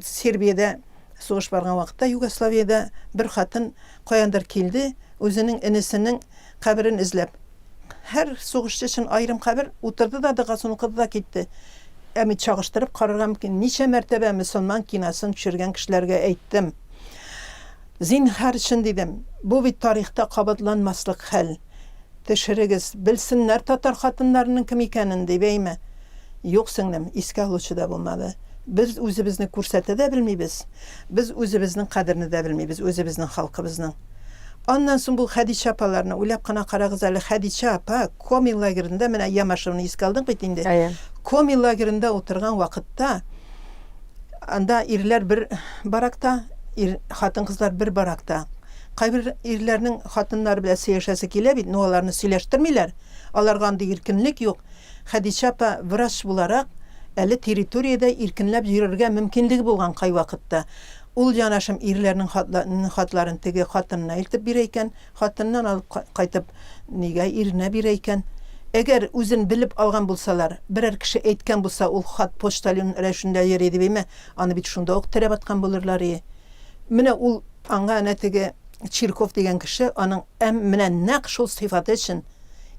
Сербиядә сугыш барган вакытта, Югославиядә бер хатын каяндыр килде, үзенең энесенең каберен эзләп. Һәр сугышчы өчен аерым кабер, утырды да, догасын укыды да китте. Ә мин чагыштырып карарга мөмкин, ничә мәртәбә мөселман киносын төшергән кешеләргә әйттем. Зинһар өчен дидем, бу бит тарихта кабатланмаслык хәл. Төшерегез, белсеннәр татар хатыннарының кем икәнен, дибәйме? Юк, сеңлем, искә алучы да булмады. Без үзебезне күрсәтә дә белмибез, без үзебезнең кадерне дә белмибез, үзебезнең халкыбызның. Аннан соң бу Хәдичә апаларны, уйлап кына карагыз әле, Хәдичә апа Коми лагеренда, менә Ямашевны искә алдык бит инде, Коми лагеренда утырган вакытта, Анда ирләр бер баракта, ир, хатын-кызлар бер баракта. Кайбер ирләрнең хатыннары белән сөйләшәсе килә бит, но аларны сөйләштермиләр. Аларга андый иркенлек юк. Хәдичә апа врач буларак, әле территориядә иркенләп йөрергә мөмкинлеге булган кайвакытта. Ул, янәшем, ирләрнең хатларын теге хатынына илтеп бирә икән. Хатыннан алып кайтып, нигә иренә бирә икән? Әгәр үзен белеп алган булсалар, берәр кеше әйткән булса, ул хат почтальон рәвешендә йөри дип име, аны бит шунда ук терәп аткан булырлар ие. Менә ул аңа әнә теге Чирков дигән кеше аның Әм менә нәкъ шул сыйфаты өчен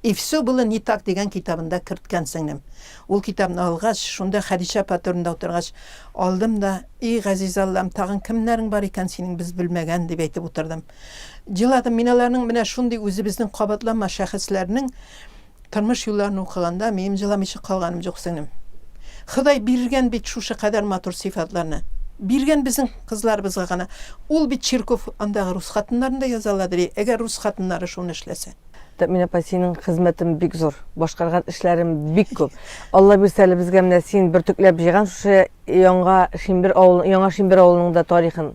И всё было не так дигән китабында керткән, сеңлем. Ул китапны алгач, шунда Хәдичә апа турында утыргач, алдым да, И, газиз Аллам, тагын кемнәрең бар икән синең без белмәгән, дип әйтеп утырдым. Җыладым, мин аларның менә шундый үзебезнең кабатланмас шәхесләрнең тормыш юлларын укыганда, минем җыламыйча калганым җук, сеңлем. Ходай биргән бит шушы кадәр матур сыйфатларны. Биргән безнең кызларыбызга гына. Ул бит чирков андагы рус хатыннарын да яза ала, дери, әгәр рус хатыннары шуны эшләсә. Тәэмин апа, синең хезмәтең бик зур, башкарган эшләрең бик күп. Алла бирсә әле безгә менә син бөртекләп җыйган шушы Яңа Шимбер авылы, Яңа Шимбер авылының да тарихын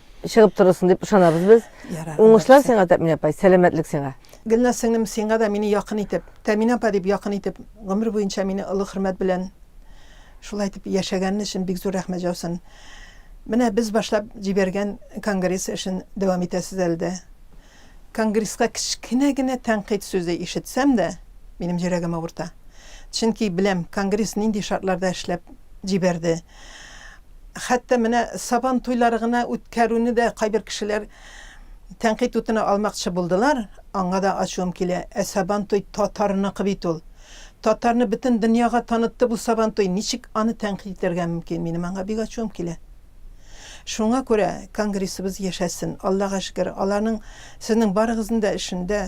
чыгып торырсың дип ышанабыз без. Уңышлар сиңа, Тәминә апай, сәламәтлек сиңа. Гөлназ сеңлем, сиңа да мине якын итеп, Тәминә апа дип якын итеп, гомер буенча мине олы хөрмәт белән шулай итеп яшәгәнен өчен бик зур рәхмәт җаусын. Менә без башлап җибәргән конгресс эшен дәвам итәсез әле дә. Конгресска кечкенә генә тәнкыйть сүзе ишетсәм дә, минем йөрәгем авырта. Чөнки беләм, конгресс нинди шартларда эшләп җибәрде. Хәтта менә Сабан туйлары гына үткәрүне дә кайбер кешеләр тәнкыйть утына алмакчы булдылар, аңа да ачуым килә. Ә Сабан туй татарныкы бит ул. Татарны бөтен дөньяга танытты бу Сабан туй, ничек аны тәнкыйть итәргә мөмкин? Минем аңа бик ачуым килә. Шуңа күрә конгрессыбыз яшәсен. Аллага шөкер, аларның сезнең барыгызның да эшендә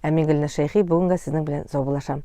Ә мин Гөлназ Шәйхи бүгенгә сезнең белән саубуллашам.